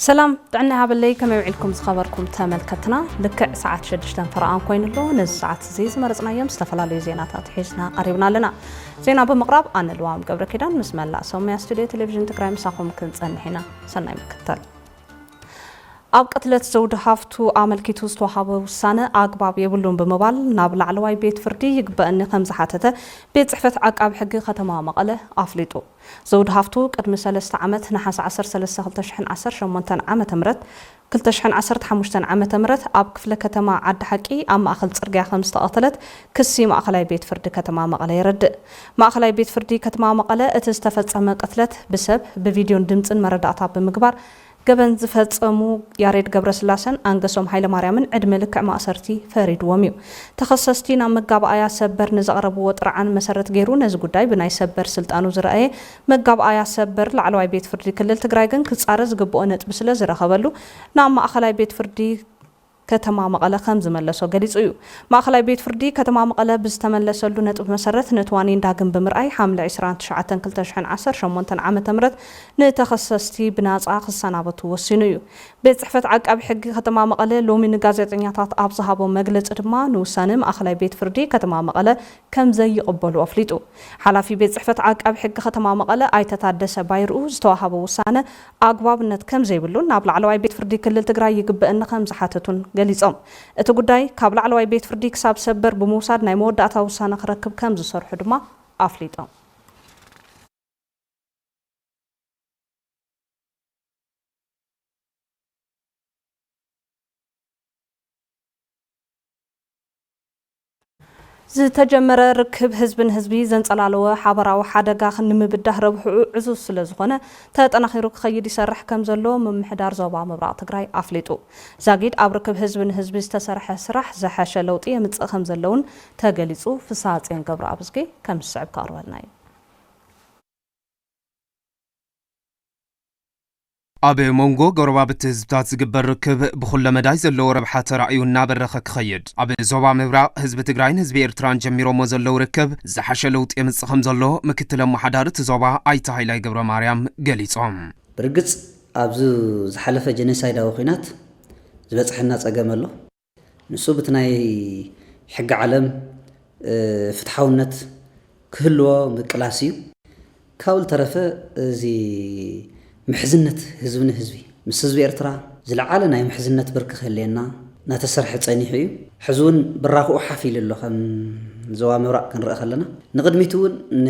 ሰላም ጥዕና ይሃበለይ ከመይ ውዒልኩም ዝኸበርኩም ተመልከትና ልክዕ ሰዓት ሸዱሽተን ፈረቓን ኮይኑ ኣሎ ነዚ ሰዓት እዚ ዝመረፅናዮም ዝተፈላለዩ ዜናታት ሒዝና ቀሪብና ኣለና ዜና ብምቕራብ ኣነ ልዋም ገብረ ኪዳን ምስ መላእ ሰሙያ ስቱድዮ ቴሌቭዥን ትግራይ ምሳኹም ክንፀንሕ ኢና ሰናይ ምክትታል ኣብ ቅትለት ዘውዲ ሃፍቱ ኣመልኪቱ ዝተውሃበ ውሳነ ኣግባብ የብሉን ብምባል ናብ ላዕለዋይ ቤት ፍርዲ ይግበእኒ ከምዝሓተተ ቤት ፅሕፈት ዓቃቢ ሕጊ ከተማ መቐለ ኣፍሊጡ። ዘውዲ ሃፍቱ ቅድሚ ሰለስተ ዓመት ነሓሰ ዓሰርተ ሰለስተ ክልተ ሽሕን ዓሰርተ ሸሞንተን ዓመተ ምህረት ክልተ ሽሕን ዓሰርተ ሓሙሽተን ዓመተ ምህረት ኣብ ክፍለ ከተማ ዓዲ ሓቂ ኣብ ማእኸል ፅርግያ ከምዝተቐተለት ክሲ ማእኸላይ ቤት ፍርዲ ከተማ መቐለ የረድእ። ማእኸላይ ቤት ፍርዲ ከተማ መቐለ እቲ ዝተፈፀመ ቅትለት ብሰብ፣ ብቪድዮን ድምፅን መረዳእታ ብምግባር ገበን ዝፈፀሙ ያሬድ ገብረስላሰን ኣንገሶም ሃይለማርያምን ዕድመ ልክዕ ማእሰርቲ ፈሪድዎም እዩ። ተኸሰስቲ ናብ መጋብኣያ ሰበር ንዘቕረብዎ ጥርዓን መሰረት ገይሩ ነዚ ጉዳይ ብናይ ሰበር ስልጣኑ ዝረኣየ መጋብኣያ ሰበር ላዕለዋይ ቤት ፍርዲ ክልል ትግራይ ግን ክፃረ ዝግበኦ ነጥቢ ስለዝረኸበሉ ናብ ማእኸላይ ቤት ፍርዲ ከተማ መቐለ ከምዝመለሶ ገሊፁ እዩ። ማእኸላይ ቤት ፍርዲ ከተማ መቐለ ብዝተመለሰሉ ነጥቢ መሰረት ነቲ ዋኒን ዳግም ብምርኣይ ሓምለ ዕስራን ትሽዓተን ክልተ ሽሕን ዓሰርተ ሸሞንተን ዓመተ ምህረት ንተኸሰስቲ ብናፃ ክሰናበቱ ወሲኑ እዩ። ቤት ፅሕፈት ዓቃቢ ሕጊ ከተማ መቐለ ሎሚ ንጋዜጠኛታት ኣብ ዝሃቦ መግለፂ ድማ ንውሳነ ማእኸላይ ቤት ፍርዲ ከተማ መቐለ ከምዘይቕበሉ ኣፍሊጡ። ሓላፊ ቤት ፅሕፈት ዓቃቢ ሕጊ ከተማ መቐለ ኣይተ ታደሰ ባይርኡ ዝተውሃበ ውሳነ ኣግባብነት ከምዘይብሉን ናብ ላዕለዋይ ቤት ፍርዲ ክልል ትግራይ ይግበእኒ ከምዝሓተቱን ገሊፆም። እቲ ጉዳይ ካብ ላዕለዋይ ቤት ፍርዲ ክሳብ ሰበር ብምውሳድ ናይ መወዳእታ ውሳነ ክረክብ ከምዝሰርሑ ድማ ኣፍሊጦም። ዝተጀመረ ርክብ ህዝቢ ንህዝቢ ዘንፀላለወ ሓበራዊ ሓደጋ ንምብዳህ ረብሕኡ ዕዙዝ ስለዝኾነ ተጠናኺሩ ክኸይድ ይሰርሕ ከምዘሎ ምምሕዳር ዞባ ምብራቕ ትግራይ ኣፍሊጡ። ዛጊድ ኣብ ርክብ ህዝቢ ንህዝቢ ዝተሰርሐ ስራሕ ዝሐሸ ለውጢ የምፅእ ከምዘሎ እውን ተገሊፁ። ፍስሃፅዮን ገብረኣብዝጊ ከም ዝስዕብ ከቕርበልና እዩ። ኣብ ሞንጎ ጎረባብቲ ህዝብታት ዝግበር ርክብ ብኹለ መዳይ ዘለዎ ረብሓ ተራእዩ እናበረኸ ክኸይድ፣ ኣብ ዞባ ምብራቕ ህዝቢ ትግራይን ህዝቢ ኤርትራን ጀሚሮሞ ዘለው ርክብ ዝሓሸ ለውጢ የምፅእ ከምዘሎ ምክትል ኣመሓዳሪ እቲ ዞባ ኣይተ ሃይላይ ገብረማርያም ገሊፆም። ብርግፅ ኣብዚ ዝሓለፈ ጀኖሳይዳዊ ኲናት ዝበፅሐና ፀገም ኣሎ። ንሱ ብቲ ናይ ሕጊ ዓለም ፍትሓውነት ክህልዎ ምቅላስ ኢዩ። ካብኡ ልተረፈ እዚ ምሕዝነት ህዝቢ ንህዝቢ ምስ ህዝቢ ኤርትራ ዝለዓለ ናይ ምሕዝነት ብርኪ ክህልየና ናተሰርሐ ጸኒሑ ኢዩ። ሕዚ እውን ብራኽኡ ሓፍ ኢሉ ኣሎ ከም ዞባ ምብራቕ ክንርእ ከለና። ንቕድሚት እውን ን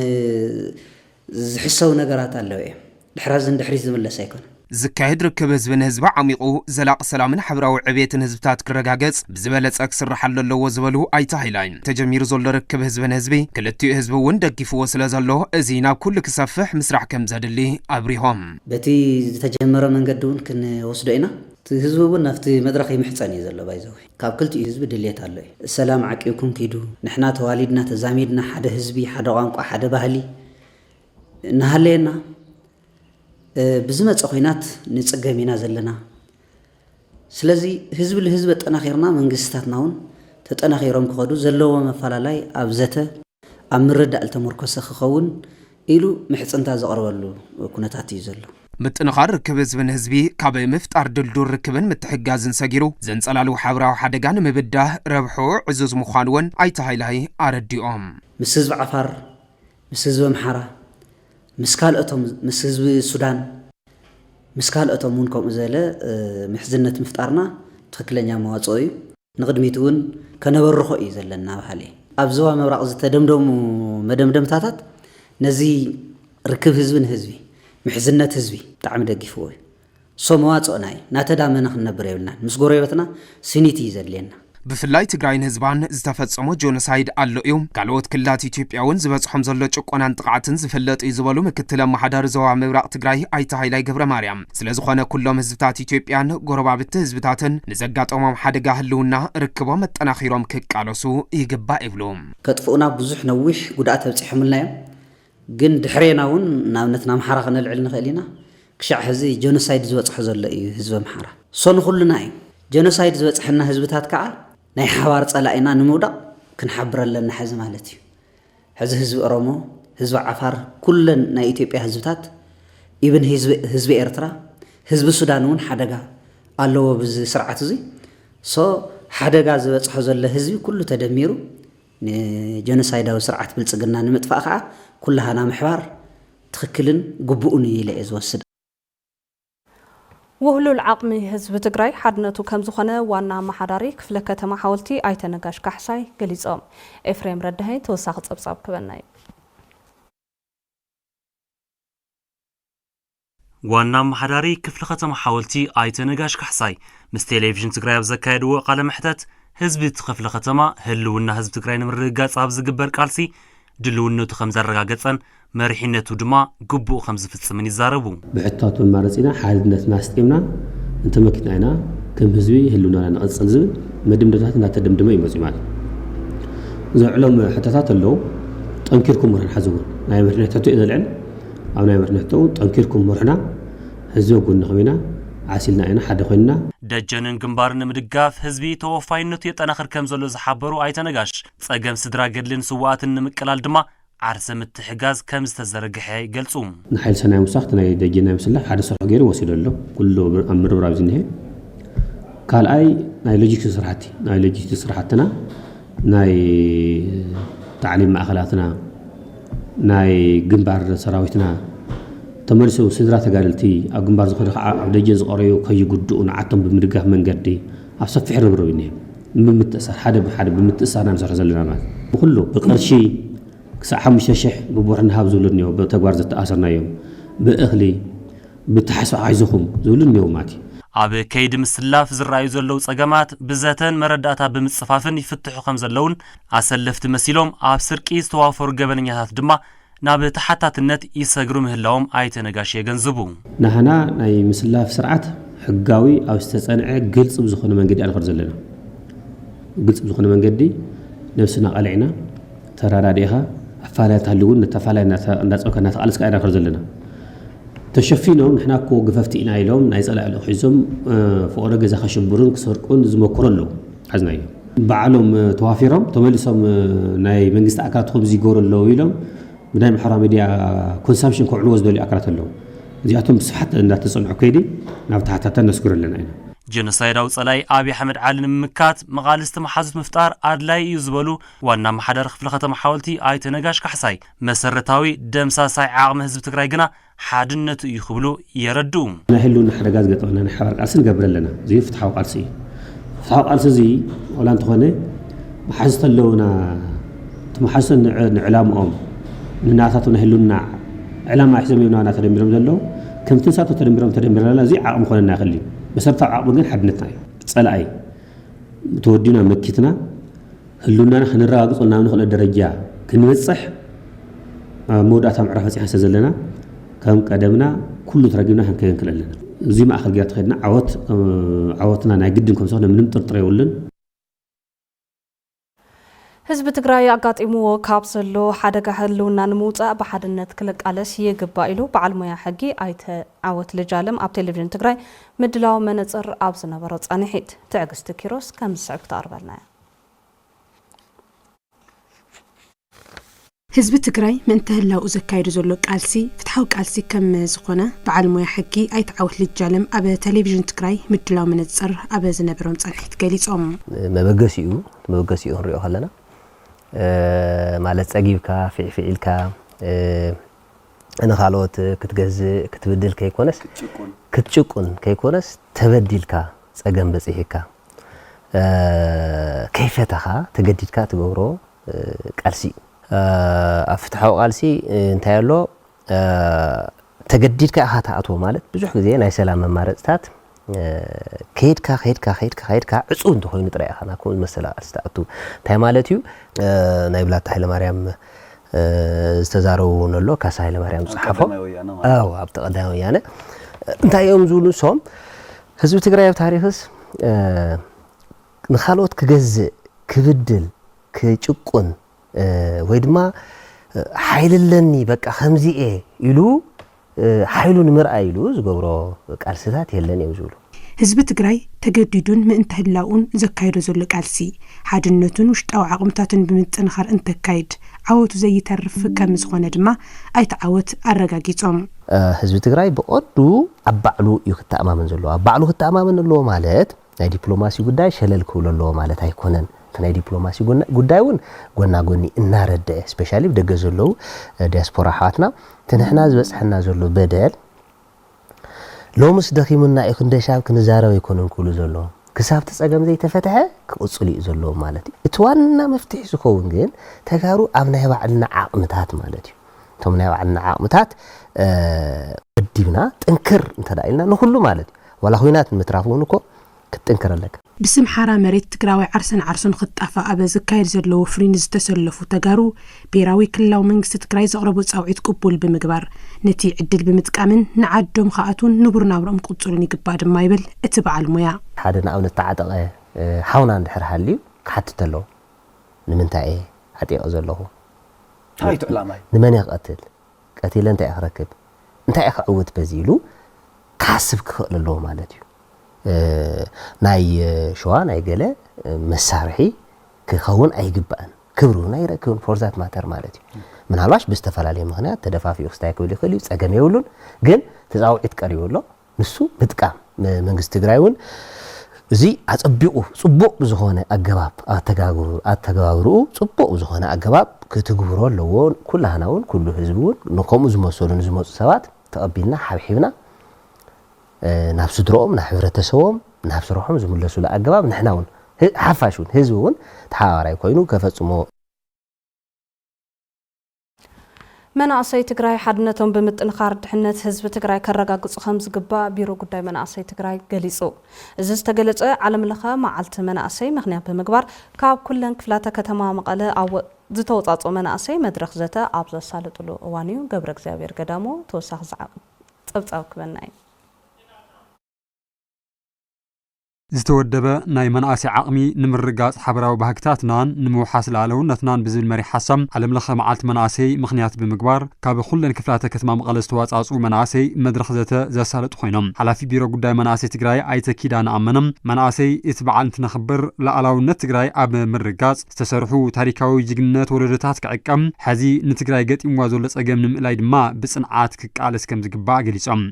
ዝሕሰቡ ነገራት ኣለዉ እዮም። ድሕሪ ኣዚ ንድሕሪት ዝምለስ ኣይኮነን። ዝካየድ ርክብ ህዝቢ ንህዝቢ ዓሚቑ ዘላቒ ሰላምን ሓብራዊ ዕብየትን ህዝብታት ክረጋገፅ ብዝበለፀ ክስርሓሉ ኣለዎ ዝበሉ ኣይተ ሃይላይ፣ ተጀሚሩ ዘሎ ርክብ ህዝቢ ንህዝቢ ክልቲኡ ህዝቢ እውን ደጊፍዎ ስለዘሎ እዚ ናብ ኩሉ ክሰፍሕ ምስራሕ ከምዘድሊ ኣብሪሆም። በቲ ዝተጀመረ መንገዲ እውን ክንወስዶ ኢና። እቲ ህዝቢ እውን ናብቲ መድረኽ ይምሕፀን እዩ ዘሎ ባይዘወይ። ካብ ክልቲኡ ህዝቢ ድልየት ኣሎ እዩ ሰላም ዓቂብኩም ኪዱ ንሕና ተዋሊድና ተዛሚድና ሓደ ህዝቢ ሓደ ቋንቋ ሓደ ባህሊ እናሃለየና ብዝመፀ ኩናት ንፅገም ኢና ዘለና ስለዚ ህዝቢ ልህዝቢ ኣጠናኺርና መንግስቲታትና እውን ተጠናኺሮም ክኸዱ ዘለዎም ኣፈላላይ ኣብ ዘተ ኣብ ምርዳእ ልተሞርኮሰ ክኸውን ኢሉ ምሕጽንታ ዘቕርበሉ ኩነታት እዩ ዘሎ። ምጥንኻር ርክብ ህዝቢ ንህዝቢ ካብ ምፍጣር ድልዱል ርክብን ምትሕግጋዝን ሰጊሩ ዘንጸላልው ሓብራዊ ሓደጋ ንምብዳህ ረብሕኡ ዕዙዝ ምዃኑ እውን ኣይተ ሃይላይ ኣረዲኦም። ምስ ህዝቢ ዓፋር፣ ምስ ህዝቢ ኣምሓራ፣ ምስ ካልኦቶም ምስ ህዝቢ ሱዳን ምስ ካልኦቶም እውን ከምኡ ዝበለ ምሕዝነት ምፍጣርና ትኽክለኛ መዋጽኦ እዩ። ንቕድሚት እውን ከነበርኾ እዩ ዘለና በሃሊ። ኣብ ዞባ ምብራቕ ዝተደምደሙ መደምደምታታት ነዚ ርክብ ህዝቢ ንህዝቢ፣ ምሕዝነት ህዝቢ ብጣዕሚ ደጊፍዎ እዩ። so መዋጽኦና እዩ። እናተዳመና ክንነብር የብልናን። ምስ ጎረቤትና ስኒት እዩ ዘድልየና። ብፍላይ ትግራይን ህዝባን ዝተፈጸሞ ጆኖሳይድ ኣሎ እዩ። ካልኦት ክልላት ኢትዮጵያ እውን ዝበጽሖም ዘሎ ጭቆናን ጥቕዓትን ዝፍለጥ እዩ ዝበሉ ምክትል ኣመሓዳሪ ዞባ ምብራቕ ትግራይ ኣይተ ሃይላይ ገብረማርያም፣ ስለዝኾነ ኩሎም ህዝብታት ኢትዮጵያን ጎረባብቲ ህዝብታትን ንዘጋጠሞም ሓደጋ ህልውና ርክቦም ኣጠናኺሮም ክቃለሱ ይግባእ ይብሉ። ከጥፍኡና ብዙሕ ነዊሕ ጉድኣት ኣብፂሖምልና እዮም። ግን ድሕሬና እውን ንኣብነት ንኣምሓራ ክነልዕል ንኽእል ኢና። ክሻዕ ሕዚ ጀኖሳይድ ዝበፅሖ ዘሎ እዩ ህዝቢ ኣምሓራ። ሶ ንኹልና እዩ። ጀኖሳይድ ዝበፅሐና ህዝብታት ከዓ ናይ ሓባር ፀላኢና ንምውዳቕ ክንሓብር ኣለና ሕዚ ማለት እዩ። ሕዚ ህዝቢ ኦሮሞ ህዝቢ ዓፋር ኩለን ናይ ኢትዮጵያ ህዝብታት ኢብን ህዝቢ ኤርትራ ህዝቢ ሱዳን እውን ሓደጋ ኣለዎ ብዚ ስርዓት እዚ ሶ ሓደጋ ዝበጽሖ ዘሎ ህዝቢ ኩሉ ተደሚሩ ንጀኖሳይዳዊ ስርዓት ብልጽግና ንምጥፋእ ከዓ ኩላህና ምሕባር ትኽክልን ግቡእን እዩ ኢለ እየ ዝወስድ። ውህሉል ዓቕሚ ህዝቢ ትግራይ ሓድነቱ ከምዝኾነ ዋና ኣመሓዳሪ ክፍለ ከተማ ሓወልቲ ኣይተ ነጋሽ ካሕሳይ ገሊፆም። ኤፍሬም ረዳሀኝ ተወሳኺ ፀብፃብ ክበና እዩ። ዋና ኣመሓዳሪ ክፍለ ከተማ ሓወልቲ ኣይተ ነጋሽ ካሕሳይ ምስ ቴሌቪዥን ትግራይ ኣብ ዘካየድዎ ቃለ መሕተት ህዝቢ እቲ ክፍለ ከተማ ህልውና ህዝቢ ትግራይ ንምርግጋፅ ኣብ ዝግበር ቃልሲ ድልውነቱ ከም ዘረጋገጸን መሪሕነቱ ድማ ግቡኡ ከም ዝፍጽምን ይዛረቡ። ብሕታቱን ማረጺና ሓድነትና ኣስጢምና እንተመኪትና ኢና ከም ህዝቢ ህልውናና ነቕጽል ዝብል መደምደምታት እናተደምደመ እዩ መጺኡ ማለት እዩ። ዘልዕሎም ሕቶታት ኣለዉ። ጠንኪርኩም ምርሑና ሕዚ እውን ናይ መሪሕነት ሕቶ እዩ ዘልዕል። ኣብ ናይ መሪሕነት ሕቶ እውን ጠንኪርኩም ምርሑና፣ ህዝቢ ኣብ ጎንኹም ኢና፣ ዓሲልና ኢና፣ ሓደ ኮይንና። ደጀንን ግንባርን ንምድጋፍ ህዝቢ ተወፋይነቱ የጠናኽር ከም ዘሎ ዝሓበሩ ኣይተ ነጋሽ፣ ፀገም ስድራ ገድልን ስውኣትን ንምቅላል ድማ ዓርሰ ምትሕጋዝ ከም ዝተዘርግሐ ይገልፁ። ንሓይሊ ሰናይ ምውሳኽ እቲ ናይ ደጀን ናይ ምስላሕ ሓደ ስርሑ ገይሩ ወሲዱ ኣሎ። ኩሉ ኣብ ምርብራብ እዩ ዝኒሀ። ካልኣይ ናይ ሎጂስቲክስ ስራሕቲ ናይ ሎጂስቲክስ ስራሕትና ናይ ታዕሊም ማእኸላትና ናይ ግንባር ሰራዊትና ተመሊሱ ስድራ ተጋደልቲ ኣብ ግንባር ዝኸዱ ከዓ ኣብ ደጀን ዝቐረዩ ከይጉድኡ ንዓቶም ብምድጋፍ መንገዲ ኣብ ሰፊሕ ርብርብ እዩ እኒሀ። ብምምትእሳር ሓደ ብሓደ ብምትእስሳር ኢና ንሰርሕ ዘለና ማለት እዩ። ብኹሉ ብቅርሺ ክሳዕ ሓሙሽተ ሽሕ ብቡር ንሃብ ዝብሉ እኒሀው ብተግባር ዘተኣሰርናዮም ብእኽሊ ብተሓስፋ ኣይዞኹም ዝብሉ እኒሀው ማለት እዩ። ኣብ ከይዲ ምስላፍ ዝረኣዩ ዘለው ፀገማት ብዘተን መረዳእታ ብምፅፋፍን ይፍትሑ ከምዘለውን ኣሰለፍቲ መሲሎም ኣብ ስርቂ ዝተዋፈሩ ገበነኛታት ድማ ናብ ተሓታትነት ይሰግሩ ምህላዎም ኣይተ ነጋሽ የገንዝቡ። ናህና ናይ ምስላፍ ስርዓት ሕጋዊ ኣብ ዝተፀንዐ ግልፂ ብዝኾነ መንገዲ ኢና ንኸድ ዘለና። ግልፂ ብዝኾነ መንገዲ ነብስና ቀሊዕና፣ ተረዳዲእኻ፣ ኣፋላይ እንተሃልዩ እውን ነቲ ኣፋላይ እንዳፀምካ እንዳተቓለስካ ኢና ንኸድ ዘለና። ተሸፊኖም ንሕና እኮ ገፈፍቲ ኢና ኢሎም ናይ ፀላኢ ልኡኽ ሒዞም ፍቕሪ ገዛ ከሽብሩን ክሰርቁን ዝመክሩ ኣለው። ሓዝናዮ። ባዕሎም ተዋፊሮም ተመሊሶም ናይ መንግስቲ ኣካላት ከምዚ ይገብሩ ኣለዉ ኢሎም ብናይ ማሕበራዊ ሚድያ ኮንሳምፕሽን ከውዕልዎ ዝደልዩ ኣካላት ኣለዉ። እዚኣቶም ብስፍሓት እንዳተጸንዑ ከይዲ ናብ ታሕታታ ነስግሮ ኣለና ኢና። ጀኖሳይዳዊ ፀላኢ ኣብይ ኣሕመድ ዓሊ ንምምካት መቓልስቲ መሓዙት ምፍጣር ኣድላዪ እዩ ዝበሉ ዋና ኣመሓዳሪ ክፍለ ከተማ ሓወልቲ ኣይተ ነጋሽ ካሕሳይ፣ መሰረታዊ ደምሳሳይ ዓቕሚ ህዝቢ ትግራይ ግና ሓድነቱ እዩ ክብሉ የረድኡ። ናይ ህልውና ሓደጋ ዝገጠመና ናይ ሓባር ቃልሲ ንገብር ኣለና። እዙይ ፍትሓዊ ቃልሲ እዩ። ፍትሓዊ ቃልሲ እዙይ ዋላ እንተኾነ መሓዙት ኣለውና። እቲ መሓዙት ንዕላምኦም ንናታቶም ናይ ህልውና ዕላማ ሒዞም እዮም ናባና ተደሚሮም ዘለዉ። ከምቲ ንሳቶም ተደሚሮም ተደሚርና ኣለና። እዙይ ዓቕሚ ክኾነና ይኽእል እዩ። መሰረታዊ ዓቕሚ ግን ሓድነትና እዩ። ፀላኢ ተወዲና መኪትና ህልውናና ከነረጋግፀሉ ናብ ንኽእለ ደረጃ ክንበፅሕ ኣብ መወዳእታ ምዕራፍ በፂሕና ስለዘለና ከም ቀደምና ኩሉ ተረጊብና ክንከይድ ንክእል ኣለና። እዚ ማእኸል ጌርና ተኸይድና ዓወት ዓወትና ናይ ግድን ከም ዝኾነ ምንም ጥርጥር የብሉን። ህዝቢ ትግራይ ኣጋጢምዎ ካብ ዘሎ ሓደጋ ህልውና ንምውፃእ ብሓድነት ክልቃለስ ይግባእ ኢሉ በዓል ሞያ ሕጊ ኣይተ ዓወት ልጃለም ኣብ ቴሌቪዥን ትግራይ ምድላው መነፅር ኣብ ዝነበሮ ፃንሒት። ትዕግስቲ ኪሮስ ከም ዝስዕብ ክተቕርበልና እያ። ህዝቢ ትግራይ ምእንተ ህላውኡ ዘካይዶ ዘሎ ቃልሲ ፍትሓዊ ቃልሲ ከም ዝኾነ በዓል ሞያ ሕጊ ኣይተ ዓወት ልጃለም ኣብ ተሌቪዥን ትግራይ ምድላው መነፅር ኣብ ዝነበሮም ፃንሒት ገሊፆም። መበገሲኡ እቲ መበገሲኡ ክንሪኦ ከለና ማለት ፀጊብካ ፊዕፊዕ ኢልካ ንኻልኦት ክትገዝእ ክትብድል ከይኮነስ ክትጭቁን ከይኮነስ ተበዲልካ ፀገም በፂሒካ ከይፈተኻ ተገዲድካ ትገብሮ ቃልሲ እዩ። ኣብ ፍትሓዊ ቃልሲ እንታይ ኣሎ ተገዲድካ ኢኻ ትኣትዎ ማለት ብዙሕ ግዜ ናይ ሰላም መማረፅታት ከይድካ ከይድካ ከይድካ ከይድካ ዕፁው እንተኾይኑ ጥራይ ኢኻ ናብ ከምኡ ዝመሰለ ቃልሲ ትኣቱ። እንታይ ማለት እዩ? ናይ ብላታ ሃይለማርያም ዝተዛረቡ እውን ኣሎ ካሳ ሃይለማርያም ዝፀሓፎ ኣዎ ኣብቲ ቀዳማይ ወያነ እንታይ እዮም ዝብሉ ንሶም ህዝቢ ትግራይ ኣብ ታሪኽስ ንኻልኦት ክገዝእ፣ ክብድል፣ ክጭቁን ወይ ድማ ሓይሊ ኣለኒ በቃ ከምዚ እየ ኢሉ ሓይሉ ንምርኣይ ኢሉ ዝገብሮ ቃልስታት የለን እዮም ዝብሉ። ህዝቢ ትግራይ ተገዲዱን ምእንተ ህላውኡን ዘካይዶ ዘሎ ቃልሲ፣ ሓድነቱን ውሽጣዊ ዓቕምታቱን ብምጥንኻር እንተካይድ ዓወቱ ዘይተርፍ ከምዝኾነ ድማ ኣይተ ዓወት ኣረጋጊፆም። ህዝቢ ትግራይ ብቐንዱ ኣብ ባዕሉ እዩ ክተኣማመን ዘለዎ። ኣብ ባዕሉ ክተኣማመን ኣለዎ ማለት፣ ናይ ዲፕሎማሲ ጉዳይ ሸለል ክብሎ ኣለዎ ማለት ኣይኮነን። እቲ ናይ ዲፕሎማሲ ጉዳይ እውን ጎና ጎኒ እናረደኤ ስፔሻሊ ብደገ ዘለዉ ዲያስፖራ ኣሕዋትና እቲ ንሕና ዝበፅሐና ዘሎ በደል ሎምስ ደኺሙና እዩ ክንደሻብ ክንዛረብ ኣይኮነን ክብሉ ዘለዎም ክሳብ እቲ ፀገም ዘይተፈትሐ ክቕፅሉ እዩ ዘለዎም ማለት እዩ። እቲ ዋና መፍትሒ ዝኸውን ግን ተጋሩ ኣብ ናይ ባዕልና ዓቕምታት ማለት እዩ እቶም ናይ ባዕልና ዓቕምታት ወዲብና ጥንክር እንተ ኢልና ንኹሉ ማለት እዩ ዋላ ኹናት ንምትራፍ እውን እኮ ክትጥንክር ኣለካ። ብስም ሓራ መሬት ትግራዋይ ዓርሰን ዓርሱን ኽጣፋእ ኣብ ዝካየድ ዘሎ ወፍሪ ንዝተሰለፉ ተጋሩ ብሄራዊ ክልላዊ መንግስቲ ትግራይ ዘቕረቦ ፃውዒት ቅቡል ብምግባር ነቲ ዕድል ብምጥቃምን ንዓዶም ኽኣትዉን ንቡር ናብርኦም ክቕፅሉን ይግባእ ድማ ይብል እቲ በዓል ሞያ። ሓደ ንኣብነት ተዓጠቐ ሓውና እንድሕር ሃልዩ ክሓትት ኣለዎ ንምንታይ እየ ዓጢቐ ዘለኹ? እንታይ እዩ እቲ ዕላማይ? ንመን እየ ክቐትል? ቀቲለ እንታይ እየ ክረክብ እንታይ እየ ክዕውት በዚ ኢሉ ክሓስብ ክኽእል ኣለዎ ማለት እዩ። ናይ ሸዋ ናይ ገለ መሳርሒ ክኸውን ኣይግባእን ክብሪ እውን ኣይረክብን ፎርዛት ማተር ማለት እዩ። ምናልባሽ ብዝተፈላለየ ምክንያት ተደፋፊኡ ክስታይ ክብል ይኽእል እዩ ፀገም የብሉን ግን ተፃውዒት ቀሪቡ ኣሎ ንሱ ምጥቃም መንግስቲ ትግራይ እውን እዚ ኣፀቢቑ ፅቡቕ ብዝኾነ ኣገባብ ኣተገባብርኡ ፅቡቕ ብዝኾነ ኣገባብ ክትግብሮ ኣለዎ። ኩላህና እውን ኩሉ ህዝቢ እውን ንከምኡ ዝመሰሉ ንዝመፁ ሰባት ተቐቢልና ሓብሒብና ናብ ስድረኦም ናብ ሕብረተሰቦም ናብ ስርሖም ዝምለሱሉ ኣገባብ ንሕና እውን ሓፋሽ እውን ህዝቢ እውን ተሓባባራይ ኮይኑ ከፈፅሞ መናእሰይ ትግራይ ሓድነቶም ብምጥንኻር ድሕነት ህዝቢ ትግራይ ከረጋግፁ ከምዝግባእ ቢሮ ጉዳይ መናእሰይ ትግራይ ገሊፁ። እዚ ዝተገለፀ ዓለም ለኸ መዓልቲ መናእሰይ ምኽንያት ብምግባር ካብ ኩለን ክፍላተ ከተማ መቐለ ዝተውፃፅኡ መናእሰይ መድረኽ ዘተ ኣብ ዘሳልጥሉ እዋን እዩ። ገብረእግዚኣብሔር ገዳሙ ተወሳኺ ፀብፃብ ክበና እዩ። ዝተወደበ ናይ መናእሰይ ዓቕሚ ንምርግጋፅ ሓበራዊ ባህግታትናን ንምውሓስ ልኣለውነትናን ብዝብል መሪሕ ሓሳብ ዓለም ለኸ መዓልቲ መናእሰይ ምኽንያት ብምግባር ካብ ኹለን ክፍላተ ከተማ መቐለ ዝተዋፃእፅኡ መናእሰይ መድረኽ ዘተ ዘሳለጡ ኾይኖም ሓላፊ ቢሮ ጉዳይ መናእሰይ ትግራይ ኣይተ ኪዳነ ኣመነ መናእሰይ እቲ በዓል እንትነኽብር ልኣላውነት ትግራይ ኣብ ምርግጋፅ ዝተሰርሑ ታሪካዊ ጅግንነት ወለዶታት ክዕቀብ ሐዚ ንትግራይ ገጢምዋ ዘሎ ፀገም ንምእላይ ድማ ብፅንዓት ክቃለስ ከምዝግባእ ገሊፆም።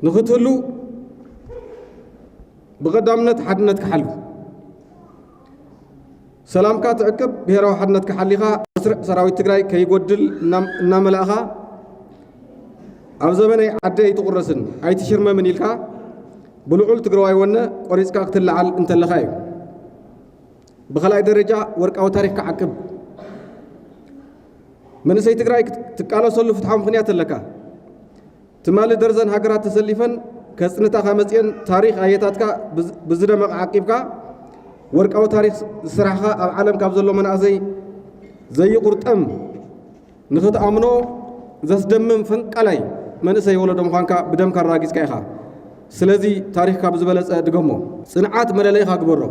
ንክትህሉ ብቐዳምነት ሓድነት ክሓሉ ሰላምካ ትዕቅብ ብሄራዊ ሓድነትካ ሓሊኻ መስርዕ ሰራዊት ትግራይ ከይጎድል እናመላእኻ ኣብ ዘበነይ ዓዲ ኣይትቑረስን ኣይትሽርመምን ኢልካ ብልዑል ትግራዋይ ወነ ቆሪፅካ ክትለዓል እንተለኻ እዩ። ብኸላይ ደረጃ ወርቃዊ ታሪክ ክዓቅብ መንእሰይ ትግራይ ትቃለሰሉ ፍትሓዊ ምክንያት ኣለካ። ትማሊ ደርዘን ሃገራት ተሰሊፈን ከጽንታኻ መጺኤን ታሪኽ ኣየታትካ ብዝደመቐ ዓቂብካ ወርቃዊ ታሪኽ ዝስራሕኻ ኣብ ዓለም ካብ ዘሎ መናእሰይ ዘይቑርጠም ንኽትኣምኖ ዘስደምም ፈንቃላይ መንእሰይ ወለዶ ምዃንካ ብደምካ ኣራጊጽካ ኢኻ። ስለዚ ታሪኽካ ብዝበለጸ ድገሞ። ጽንዓት መለለይኻ ግበሮ።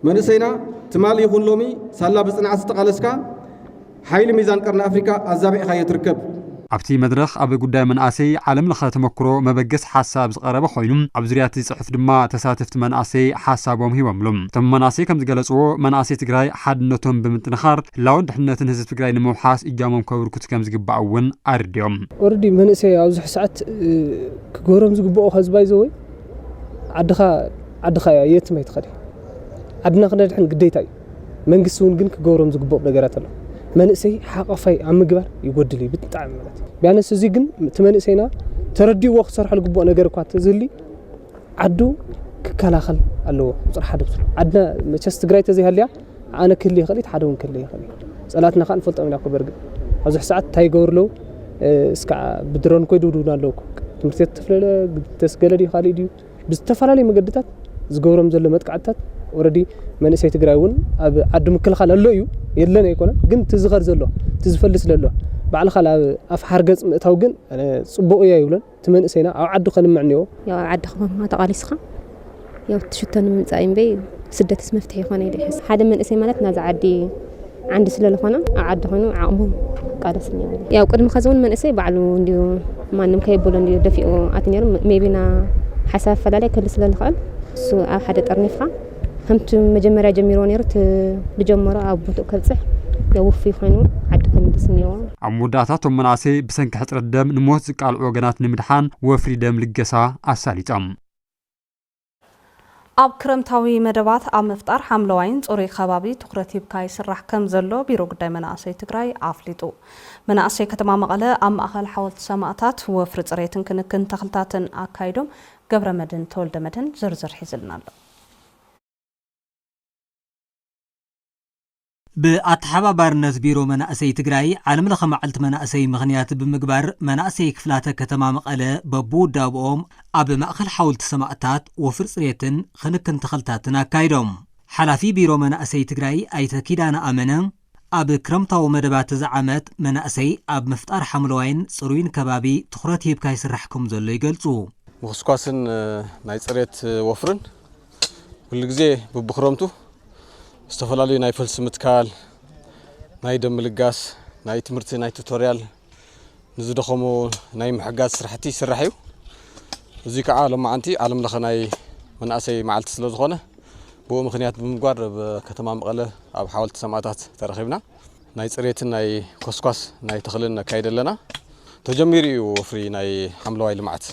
መንእሰይና ትማል ይኹን ሎሚ ሳላ ብጽንዓት ዝተቓለስካ ሓይሊ ሚዛን ቀርኒ ኣፍሪካ ኣዛቢዕኻዮ ትርከብ። ኣብቲ መድረኽ ኣብ ጉዳይ መናእሰይ ዓለም ለኸ ተመኩሮ መበገሲ ሓሳብ ዝቐረበ ኾይኑ ኣብ ዙርያ እቲ ፅሑፍ ድማ ተሳተፍቲ መናእሰይ ሓሳቦም ሂቦምሉ። እቶም መናእሰይ ከምዝገለፅዎ መናእሰይ ትግራይ ሓድነቶም ብምጥንኻር ህላወን ድሕንነትን ህዝቢ ትግራይ ንምውሓስ እጃሞም ከብርክቱ ከምዝግባእ እውን ኣረዲኦም። ኦረዲ መንእሰይ ኣብዙሕ ሰዓት ክገሮም ዝግበኦ ከዝባይ ዘወይ ዓድኻ ዓድኻ እያ የትም ኣይትኸድ። ዓድና ክነድሕን ግዴታ እዩ። መንግስቲ እውን ግን ክገብሮም ዝግብኦም ነገራት ኣሎ። መንእሰይ ሓቋፋይ ኣብ ምግባር ይጎድል እዩ ብጣዕሚ ማለት እዩ። ቢያነስ እዚ ግን እቲ መንእሰይና ተረዲእዎ ክሰርሖ ዝግብኦ ነገር እኳ ተዝህሊ ዓዱ ክከላኸል ኣለዎ። ቁፅሪ ሓደ ዓድና መቸስ ትግራይ ተዘይሃልያ ዓነ ክህሊ ይኽእል እዩ ሓደ ውን ክህሊ ይኽእል እዩ ጸላትና ካኣ ንፈልጦም ኢና እኮ በርግጥ ኣብዚ ሕሳዓት እንታይ ይገብሩ ኣለዉ እስካዓ ብድሮን እኮ ይድብድቡና ኣለዉ እኮ ትምህርቲ ቤት ተፍለለ ተስገለ ድዩ ካልእ ድዩ ብዝተፈላለዩ መገድታት ዝገብሮም ዘሎ መጥቃዕትታት ኦረዲ መንእሰይ ትግራይ እውን ኣብ ዓዲ ምክልኻል ኣሎ እዩ የለን ኣይኮነን ግን እቲ ዝኸር ዘሎ እቲ ዝፈልስ ዘሎ ባዕልኻ ኣብ ኣፍ ሓርገፅ ምእታው ግን ፅቡቕ እያ ይብለን እቲ መንእሰይና ኣብ ዓዱ ከልምዕ እኒዎ። ያው ኣብ ዓድኻ ማማ ተቓሊስኻ ያው ትሽቶ ንምምፃእ እምበይ ስደትስ መፍትሒ ይኾነ ኢለ ይሕስ ሓደ መንእሰይ ማለት ናዚ ዓዲ ዓንዲ ስለ ዝኾነ ኣብ ዓዲ ኮይኑ ዓቕሙ ቃለስ እኒዎ ያው ቅድሚ ከዚ እውን መንእሰይ ባዕሉ እንዲዩ ማንም ከየብሎ እንዲዩ ደፊኡ ኣት ነይሩ ሜቢና ሓሳብ ኣፈላለይ ክህሉ ስለ ዝኽእል እሱ ኣብ ሓደ ጠርኒፍካ ከምቲ መጀመርያ ጀሚርዎ ነይሩ እቲ ዝጀመሮ ኣብ ቦትኡ ከብጽሕ ያው ውፉይ ኮይኑ ዓዲ ከምልስ እኒኦዎ። ኣብ መወዳእታ እቶም መናእሰይ ብሰንኪ ሕጽረት ደም ንሞት ዝቃልዑ ወገናት ንምድሓን ወፍሪ ደም ልገሳ ኣሳሊጦም። ኣብ ክረምታዊ መደባት ኣብ ምፍጣር ሓምለዋይን ፅሩይ ከባቢ ትኹረት ሂብካ ይስራሕ ከምዘሎ ቢሮ ጉዳይ መናእሰይ ትግራይ ኣፍሊጡ። መናእሰይ ከተማ መቐለ ኣብ ማእኸል ሓወልቲ ሰማእታት ወፍሪ ፅሬትን ክንክን ተኽልታትን ኣካይዶም። ገብረመድህን ተወልደመድህን ዝርዝር ሒዝልና ኣሎ። ብኣተሓባባርነት ቢሮ መናእሰይ ትግራይ ዓለም ለኸ መዓልቲ መናእሰይ ምኽንያት ብምግባር መናእሰይ ክፍላተ ከተማ መቐለ በብውዳብኦም ኣብ ማእኸል ሓውልቲ ሰማእታት ወፍሪ ፅሬትን ኽንክን ተኽልታትን ኣካይዶም። ሓላፊ ቢሮ መናእሰይ ትግራይ ኣይተ ኪዳነ ኣመነ፣ ኣብ ክረምታዊ መደባት እዚ ዓመት መናእሰይ ኣብ ምፍጣር ሓምለዋይን ፅሩይን ከባቢ ትኹረት ሂብካ ይስራሕ ከምዘሎ ይገልፁ። ምኹስኳስን ናይ ፅሬት ወፍርን ኩሉ ግዜ ቡብክረምቱ ዝተፈላለዩ ናይ ፈልሲ ምትካል፣ ናይ ደም ምልጋስ፣ ናይ ትምህርቲ ናይ ቱቶርያል፣ ንዝደኸሙ ናይ ምሕጋዝ ስራሕቲ ይስራሕ እዩ እዙይ ከዓ ሎማዓንቲ ዓለም ለኸ ናይ መናእሰይ መዓልቲ ስለ ዝኾነ ብኡ ምክንያት ብምግባር ኣብ ከተማ መቐለ ኣብ ሓወልቲ ሰማእታት ተረኺብና ናይ ፅሬትን ናይ ኮስኳስ ናይ ተኽልን ነካይድ ኣለና ተጀሚሩ እዩ ወፍሪ ናይ ሓምለዋይ ልምዓት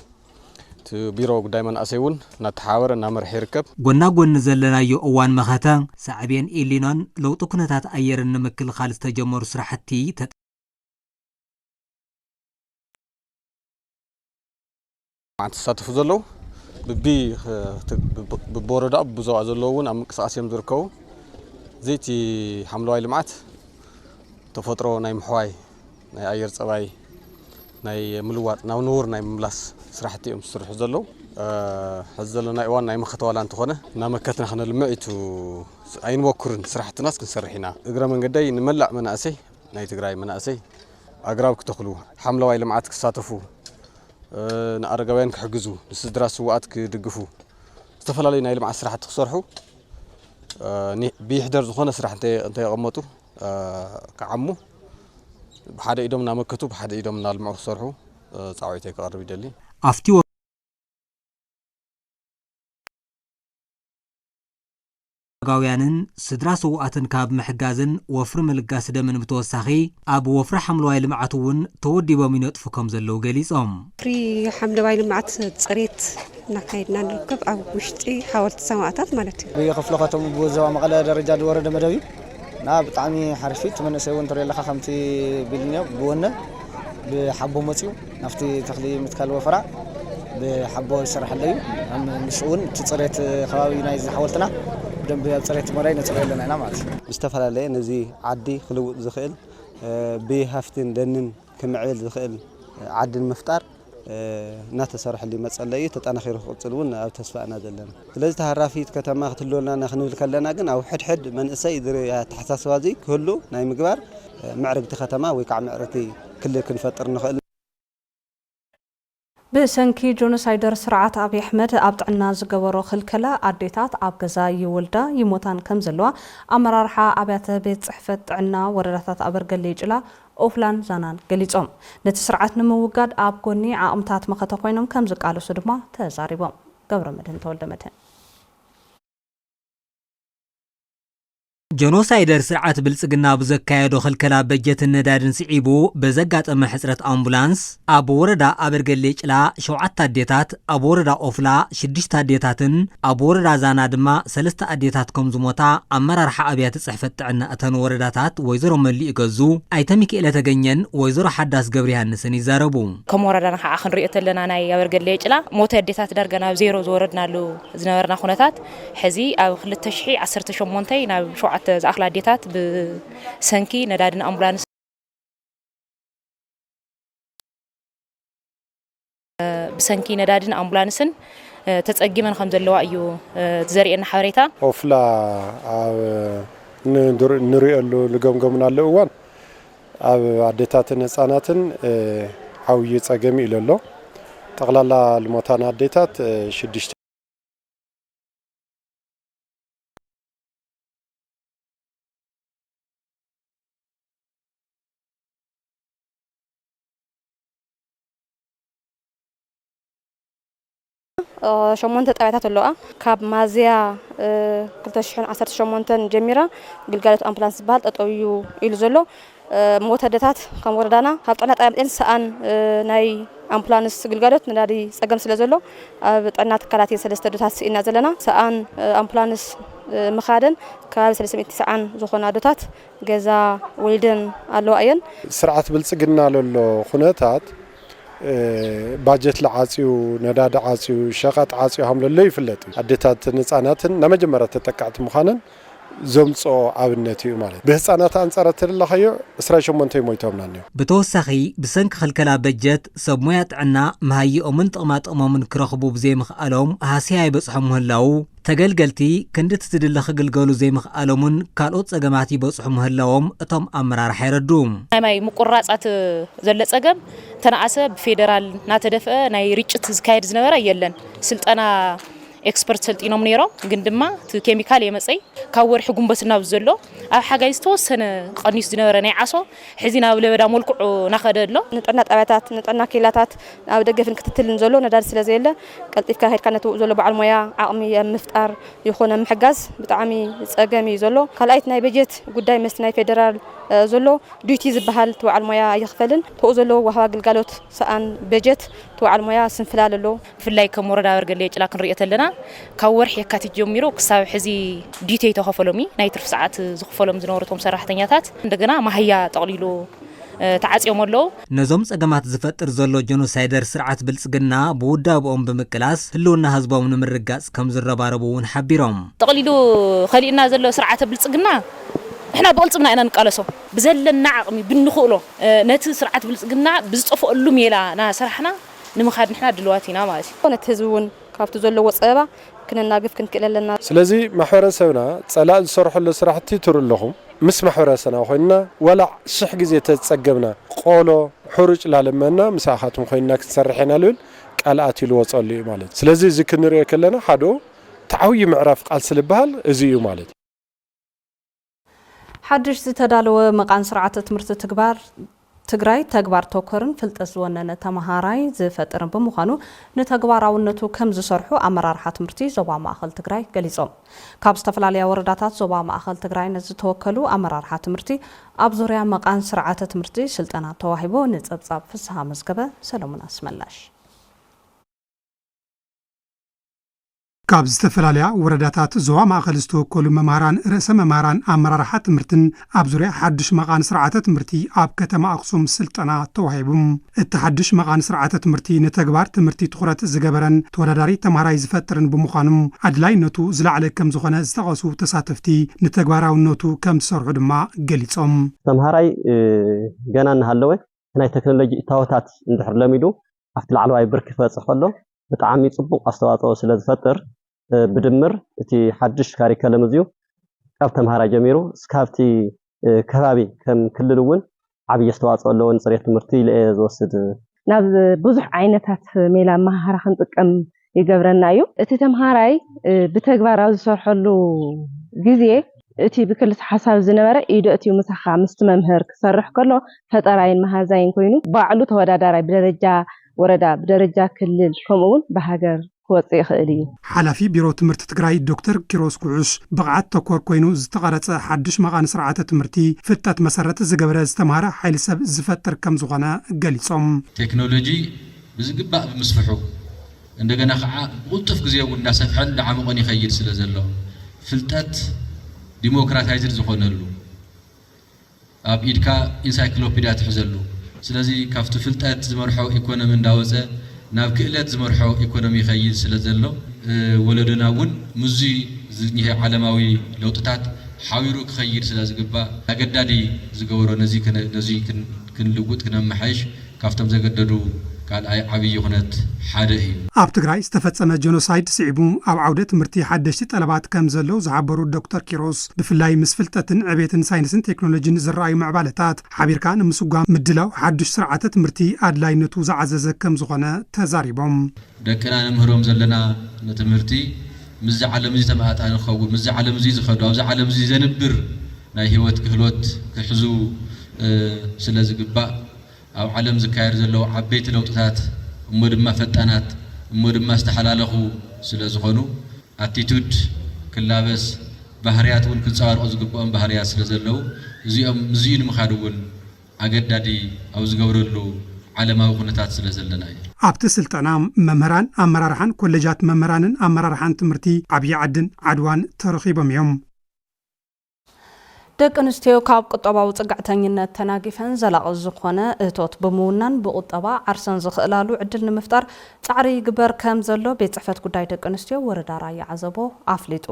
እቲ ቢሮ ጉዳይ መናእሰይ እውን እናተሓባበረ እናመርሐ ይርከብ ጎና ጎኒ ዘለናዮ እዋን መኸተ ሳዕቤን ኢሊኖን ለውጢ ኩነታት ኣየርን ንምክልኻል ዝተጀመሩ ስራሕቲ መዓት ዝሳተፉ ዘለዉ ብቢወረዳ ብዞባ ዘለዉ እውን ኣብ ምንቅስቃስ እዮም ዝርከቡ እዚ እቲ ሓምለዋይ ልምዓት ተፈጥሮ ናይ ምሕዋይ ናይ ኣየር ፀባይ ናይ ምልዋጥ ናብ ንቡር ናይ ምምላስ ስራሕቲ እዮም ዝስርሑ ዘለዉ ሕዚ ዘለና እዋን ናይ መኸተ ዋላ እንተኾነ እናመከትና ክነልምዕ ኢቱ ኣይንበኩርን ስራሕትናስ ክንሰርሕ ኢና እግረ መንገደይ ንመላእ መናእሰይ ናይ ትግራይ መናእሰይ ኣግራብ ክተኽሉ፣ ሓምለዋይ ልምዓት ክሳተፉ፣ ንኣረጋውያን ክሕግዙ፣ ንስድራ ስውኣት ክድግፉ፣ ዝተፈላለዩ ናይ ልምዓት ስራሕቲ ክሰርሑ ብይሕደር ዝኾነ ስራሕ እንተየቐመጡ ክዓሙ ብሓደ ኢዶም እናመከቱ ብሓደ ኢዶም እናልምዑ ክሰርሑ ፃውዒተይ ክቐርብ ይደሊ። ኣረጋውያንን ስድራ ስውኣትን ካብ ምሕጋዝን ወፍሪ ምልጋስ ደምን ብተወሳኺ ኣብ ወፍሪ ሓምለዋይ ልምዓት እውን ተወዲቦም ይነጥፉ ከምዘለዉ ገሊፆም። ወፍሪ ሓምለዋይ ልምዓት ፅሬት እናካየድና ንርከብ ኣብ ውሽጢ ሓወልቲ ሰማእታት ማለት እዩ። ብክፍለ ከተምኡ ብዞባ መቐለ ደረጃ ዝወረደ መደብ እዩ እና ብጣዕሚ ሓሪፍ እዩ እቲ መንእሰይ እውን እንትሪኦ ኣለካ ከምቲ ቢልኒዮ ብወነ ብሓቦ መፂኡ ናብቲ ተኽሊ ምትካል ወፈራ ብሓቦ ይስራሕ ኣሎ እዩ። ምስኡ እውን እቲ ፅሬት ከባቢ ናይ ሓወልትና ብደንቢ ኣብ ፅሬት መራይ ነፅረዮ ኣለና ኢና ማለት እዩ። ዝተፈላለየ ነዚ ዓዲ ክልውጥ ዝኽእል ብሃፍትን ደንን ክምዕብል ዝኽእል ዓዲ ንምፍጣር እናተሰርሐሉ ይመፅ ኣሎ እዩ። ተጠናኺሩ ክቕፅል እውን ኣብ ተስፋ እና ዘለና። ስለዚ ተሃራፊት ከተማ ክትህልወና እና ክንብል ከለና ግን ኣብ ሕድሕድ መንእሰይ እዚ ኣተሓሳስባ እዚ ክህሉ ናይ ምግባር ምዕርግቲ ከተማ ወይ ከዓ ምዕርግቲ ክልል ክንፈጥር ንኽእል። ብሰንኪ ጆኖሳይደር ስርዓት ኣብይ ኣሕመድ ኣብ ጥዕና ዝገበሮ ክልከላ ኣዴታት ኣብ ገዛ ይወልዳ ይሞታን ከምዘለዋ ኣመራርሓ ኣብያተ ቤት ፅሕፈት ጥዕና ወረዳታት ኣበርገሌ ጭላ ኦፍላን ዛናን ገሊፆም። ነቲ ስርዓት ንምውጋድ ኣብ ጎኒ ዓቕምታት መኸተ ኮይኖም ከምዝቃለሱ ድማ ተዛሪቦም። ገብረመድህን ተወልደመድህን። ጀኖሳይደር ስርዓት ብልፅግና ብዘካየዶ ክልከላ በጀትን ነዳድን ስዒቡ በዘጋጠመ ሕፅረት ኣምቡላንስ ኣብ ወረዳ ኣበርገሌ ጭላ ሸውዓተ ኣዴታት፣ ኣብ ወረዳ ኦፍላ ሽዱሽተ ኣዴታትን ኣብ ወረዳ ዛና ድማ ሰለስተ ኣዴታት ከምዝሞታ ኣመራርሓ ኣብያተ ፅሕፈት ጥዕና እተን ወረዳታት ወይዘሮ መሊኡ ገዙ፣ ኣይተ ሚኪኤለ ተገኘን ወይዘሮ ሓዳስ ገብሪሃንስን ይዛረቡ። ከም ወረዳና ከዓ ክንሪኦ ተለና ናይ ኣበርገሌ ጭላ ሞት ኣዴታት ዳርጋ ናብ ዜሮ ዝወረድናሉ ዝነበርና ኩነታት ሕዚ ኣብ ክልተ ሽሕ ዓሰርተ ሸሞንተ ናብ ሸውዓተ ዝኣኽላ ኣዴታት ብሰንኪ ነዳድን ኣምቡላንስን ብሰንኪ ነዳድን ኣምቡላንስን ተጸጊመን ከም ዘለዋ እዩ ዘርእየና ሓበሬታ። ኦፍላ ኣብ ንርእየሉ ንገምገምናሉ እዋን ኣብ ኣዴታትን ህጻናትን ዓውዪ ጸገም ኢሉ ኣሎ። ጠቕላላ ልሞታን ኣዴታት ሽዱሽተ። ሸሞንተ ጣብያታት ኣለዋ። ካብ ማዝያ 2018 ጀሚራ ግልጋሎት ኣምፕላንስ ዝበሃል ጠጠው እዩ ኢሉ ዘሎ። ሞት ኣደታት ከም ወረዳና ካብ ጥዕና ጣብያ መፅየን ሰኣን ናይ ኣምፑላንስ ግልጋሎት ነዳዲ ፀገም ስለ ዘሎ ኣብ ጥዕና ትካላት እየን ሰለስተ ኣዶታት ስኢንና ዘለና ሰኣን ኣምፑላንስ ምኻደን ከባቢ ሰለስተ ሚእቲ ሰዓን ዝኾና ኣዶታት ገዛ ወሊደን ኣለዋ እየን። ስርዓት ብልፅግና ለሎ ኹነታት ባጀት ለዓፅዩ፣ ነዳዲ ዓፅዩ፣ ሸቐጥ ዓፅዩ ሃም ለሎ ይፍለጥ እዩ። ኣዴታትን ህፃናትን ናይ መጀመርያ ተጠቀዕቲ ምዃነን ዘምጽኦ ኣብነት ኢዩ ማለት ብህጻናት ኣንጻር ኣተደላኻዮ ዕስራን ሸሞንተይ ሞይቶምና እኒኦ። ብተወሳኺ ብሰንኪ ክልከላ በጀት ሰብ ሞያ ጥዕና መሃይኦምን ጥቕማጥቕሞምን ክረኽቡ ብዘይምኽኣሎም ሃሰያ ይበጽሖም ምህላዉ፣ ተገልገልቲ ክንድቲ ዝድለ ክግልገሉ ዘይምኽኣሎምን ካልኦት ጸገማት ይበጽሑ ምህላዎም እቶም ኣመራርሓ የረድኡ። ናይ ማይ ምቁርራጻት ዘለ ጸገም እንተነኣሰ ብፌደራል ናተደፍአ ናይ ርጭት ዝካየድ ዝነበረ የለን ስልጠና ኤክስፐርት ሰልጢኖም ነይሮም ግን ድማ እቲ ኬሚካል የመፀይ ካብ ወርሒ ጉንበት ናብ ዘሎ ኣብ ሓጋይ ዝተወሰነ ቀኒሱ ዝነበረ ናይ ዓሶ ሕዚ ናብ ለበዳ መልክዑ ናኸደ ኣሎ። ንጥዕና ጣብያታት፣ ንጥዕና ኬላታት ኣብ ደገፍን ክትትልን ዘሎ ነዳዲ ስለዘየለ ቀልጢፍካ ከድካ ነቲ ውኡ ዘሎ በዓል ሞያ ዓቕሚ ኣብ ምፍጣር ይኹን ኣብ ምሕጋዝ ብጣዕሚ ፀገም እዩ ዘሎ። ካልኣይ እቲ ናይ በጀት ጉዳይ ምስቲ ናይ ፌደራል ዘሎ ዱይቲ ዝበሃል እቲ በዓል ሞያ ኣይኽፈልን ተኡ ዘሎ ወሃባ ግልጋሎት ሰኣን በጀት እቲ በዓል ሞያ ስንፍላል ኣሎ። ብፍላይ ከም ወረዳ ኣበርገሌ ጭላ ክንሪኦ ተለና ካብ ወርሒ የካቲት ጀሚሩ ክሳብ ሕዚ ዲቲ ኣይተኸፈሎም እዩ። ናይ ትርፊ ሰዓት ዝኽፈሎም ዝነበሩ እቶም ሰራሕተኛታት እንደገና ማህያ ጠቕሊሉ ተዓጽዮም ኣለው። ነዞም ጸገማት ዝፈጥር ዘሎ ጀኖሳይደር ስርዓት ብልጽግና ብውዳበኦም ብምቅላስ ህልውና ህዝቦም ንምርግጋጽ ከም ዝረባረቡ እውን ሓቢሮም። ጠቕሊሉ ከሊኡና ዘሎ ስርዓተ ብልጽግና ንሕና ብቕልጽምና ኢና ንቃለሶ። ብዘለና ዓቕሚ ብንኽእሎ ነቲ ስርዓት ብልጽግና ብዝጠፍኦሉ ሜላ እናሰራሕና፣ ንምኻድ ንሕና ድልዋት ኢና ማለት እዩ። ነቲ ህዝቢ እውን ካብቲ ዘለዎ ፀበባ ክነናግፍ ክንክእል ኣለና። ስለዚ ማሕበረሰብና ፀላእ ዝሰርሖሎ ስራሕቲ ትርኡ ኣለኹም። ምስ ማሕበረሰና ኮይንና ዋላ ሽሕ ግዜ ተዝፀገብና ቆሎ ሑሩጭ ላልመና ምሳኻትኩም ኮይንና ክንሰርሕ ኢና ልብል ቃል ኣትዩ ልወፀሉ እዩ ማለት እዩ። ስለዚ እዚ ክንሪኦ ከለና ሓደኡ እቲ ዓብዩ ምዕራፍ ቃልሲ ልበሃል እዚ እዩ ማለት እዩ። ሓድሽ ዝተዳለወ መቓን ስርዓተ ትምህርቲ ትግባር ትግራይ ተግባር ተኮርን ፍልጠት ዝወነነ ተምሃራይ ዝፈጥርን ብምዃኑ ንተግባራውነቱ ከምዝሰርሑ ኣመራርሓ ትምህርቲ ዞባ ማእኸል ትግራይ ገሊፆም። ካብ ዝተፈላለያ ወረዳታት ዞባ ማእኸል ትግራይን ዝተወከሉ ኣመራርሓ ትምህርቲ ኣብ ዙርያ መቓን ስርዓተ ትምህርቲ ስልጠና ተዋሂቡ ንፀብፃብ ፍስሃ መዝገበ ሰለሙን ኣስመላሽ። ካብ ዝተፈላለያ ወረዳታት ዞባ ማእኸል ዝተወከሉ መማህራን፣ ርእሰ መማህራን፣ ኣመራርሓ ትምህርትን ኣብ ዙርያ ሓዱሽ መቓን ስርዓተ ትምህርቲ ኣብ ከተማ ኣኽሱም ስልጠና ተዋሂቡም። እቲ ሓዱሽ መቓን ስርዓተ ትምህርቲ ንተግባር ትምህርቲ ትኹረት ዝገበረን ተወዳዳሪ ተማሃራይ ዝፈጥርን ብምዃኑም ኣድላይነቱ ዝለዓለ ከምዝኾነ ዝጠቐሱ ተሳተፍቲ ንተግባራውነቱ ከምዝሰርሑ ድማ ገሊፆም። ተምሃራይ ገና እናሃለወ ናይ ተክኖሎጂ እታወታት እንድሕር ለሚዱ ኣብቲ ላዕለዋይ ብርኪ ክበፅሕ ከሎ ብጣዕሚ ፅቡቕ ኣስተዋፅኦ ስለዝፈጥር ብድምር እቲ ሓዱሽ ካሪከለም እዚዩ ካብ ተምሃራይ ጀሚሩ እስካብቲ ከባቢ ከም ክልል እውን ዓብዪ ኣስተዋፅኦ ኣለዎ ንፅሬት ትምህርቲ ኢለ እየ ዝወስድ። ናብ ብዙሕ ዓይነታት ሜላ ኣመሃህራ ክንጥቀም ይገብረና እዩ። እቲ ተምሃራይ ብተግባር ኣብ ዝሰርሐሉ ግዜ እቲ ብክልሰ ሓሳብ ዝነበረ ኢዱ ኣእትዩ ምሳኻ፣ ምስቲ መምህር፣ ክሰርሕ ከሎ ፈጠራይን መሃዛይን ኮይኑ ባዕሉ ተወዳዳራይ ብደረጃ ወረዳ፣ ብደረጃ ክልል ከምኡ እውን ብሃገር ክወፅእ ይኽእል እዩ። ሓላፊ ቢሮ ትምህርቲ ትግራይ ዶክተር ኪሮስ ጉዑሽ፣ ብቕዓት ተኮር ኮይኑ ዝተቐረፀ ሓዱሽ መቓን ስርዓተ ትምህርቲ ፍልጠት መሰረት ዝገበረ ዝተምሃረ ሓይሊ ሰብ ዝፈጥር ከምዝኾነ ገሊፆም። ቴክኖሎጂ ብዝግባእ ብምስፍሑ እንደገና ከኣ ብቕልጡፍ ግዜ እውን እንዳሰፍሐን እንዳዓሞቐን ይኸይድ ስለዘሎ ፍልጠት ዲሞክራታይዝድ ዝኾነሉ ኣብ ኢድካ ኢንሳይክሎፒድያ ትሕዘሉ ስለዚ ካብቲ ፍልጠት ዝመርሖ ኢኮኖሚ እንዳወጸ ናብ ክእለት ዝመርሖ ኢኮኖሚ ይኸይድ ስለዘሎ ወለዶና እውን ምስዚ ዝኒሀ ዓለማዊ ለውጥታት ሓቢሩ ክኸይድ ስለዝግባእ ኣገዳዲ ዝገበሮ ነዚ ነዙይ ክንልውጥ ክነመሓይሽ ካብቶም ዘገደዱ ካልኣይ ዓብዪ ኩነት ሓደ እዩ። ኣብ ትግራይ ዝተፈፀመ ጀኖሳይድ ስዒቡ ኣብ ዓውደ ትምህርቲ ሓደሽቲ ጠለባት ከምዘለው ዝሓበሩ ዶክተር ኪሮስ፣ ብፍላይ ምስ ፍልጠትን ዕቤትን ሳይንስን ቴክኖሎጂን ዝረኣዩ ምዕባለታት ሓቢርካ ንምስጓም ምድላው ሓዱሽ ስርዓተ ትምህርቲ ኣድላይነቱ ዝዓዘዘ ከምዝኾነ ተዛሪቦም። ደቅና ንምህሮም ዘለና ንትምህርቲ ምስዚ ዓለም እዚ ተመጣጣኒ ክኸውን፣ ምስዚ ዓለም እዚ ዝኸዱ፣ ኣብዚ ዓለም እዚ ዘንብር ናይ ህይወት ክህሎት ክሕዙ ስለዝግባእ ኣብ ዓለም ዝካየድ ዘለዉ ዓበይቲ ለውጥታት እሞ ድማ ፈጣናት እሞ ድማ ዝተሓላለኹ ስለ ዝኾኑ ኣቲቱድ ክላበስ ባህርያት እውን ክንጸባርቑ ዝግብኦም ባህርያት ስለ ዘለዉ እዚኦም ምስዚኡ ንምኻድ እውን ኣገዳዲ ኣብ ዝገብረሉ ዓለማዊ ኩነታት ስለ ዘለና እዩ። ኣብቲ ስልጠና መምህራን ኣመራርሓን ኮሌጃት መምህራንን ኣመራርሓን ትምህርቲ ዓብዪ ዓድን ዓድዋን ተረኺቦም እዮም። ደቂ ኣንስትዮ ካብ ቁጠባዊ ፅግዕተኝነት ተናጊፈን ዘላቒ ዝኾነ እቶት ብምውናን ብቑጠባ ዓርሰን ዝኽእላሉ ዕድል ንምፍጣር ፃዕሪ ይግበር ከምዘሎ ቤት ፅሕፈት ጉዳይ ደቂ ኣንስትዮ ወረዳ ራያ ዓዘቦ ኣፍሊጡ።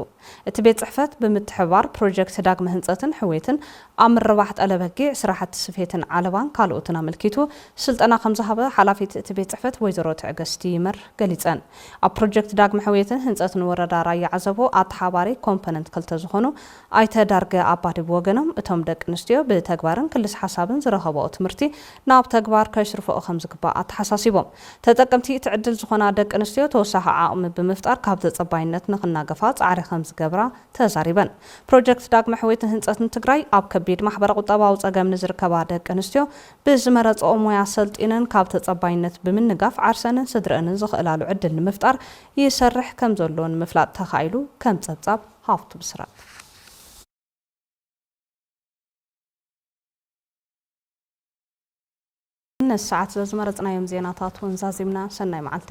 እቲ ቤት ፅሕፈት ብምትሕብባር ፕሮጀክት ዳግመ ህንፀትን ሕውየትን ኣብ ምርባሕ ጠለ በጊዕ፣ ስራሕቲ ስፌትን ዓለባን ካልኦትን ኣመልኪቱ ስልጠና ከምዝሃበ ሓላፊት እቲ ቤት ፅሕፈት ወይዘሮ ትዕግስቲ ይመር ገሊፀን። ኣብ ፕሮጀክት ዳግመ ሕውየትን ህንፀትን ወረዳ ራያ ዓዘቦ ኣተሓባሪ ኮምፖነንት ክልተ ዝኾኑ ኣይተ ዳርገ ኣባዲ ብወገኖም እቶም ደቂ ኣንስትዮ ብተግባርን ክልስ ሓሳብን ዝረኸበኦ ትምህርቲ ናብ ተግባር ከሽርፈኦ ከምዝግባእ ኣተሓሳሲቦም። ተጠቀምቲ እቲ ዕድል ዝኾና ደቂ ኣንስትዮ ተወሳኺ ዓቕሚ ብምፍጣር ካብ ተፀባይነት ንክናገፋ ፃዕሪ ከምዝገብራ ተዛሪበን። ፕሮጀክት ዳግመ ሕውየትን ህንፀትን ትግራይ ኣብ ከቢድ ማሕበረ ቁጠባዊ ፀገም ንዝርከባ ደቂ ኣንስትዮ ብዝመረፅኦ ሞያ ሰልጢነን ካብ ተፀባይነት ብምንጋፍ ዓርሰንን ስድረእንን ዘኽእላሉ ዕድል ንምፍጣር ይሰርሕ ከምዘሎ ንምፍላጥ ተኻኢሉ ከም ፀብፃብ ሃፍቱ ብስራት። ነዚ ሰዓት ዘዝመረፅናዮም ዜናታት እውን ዛዚምና ሰናይ መዓልቲ።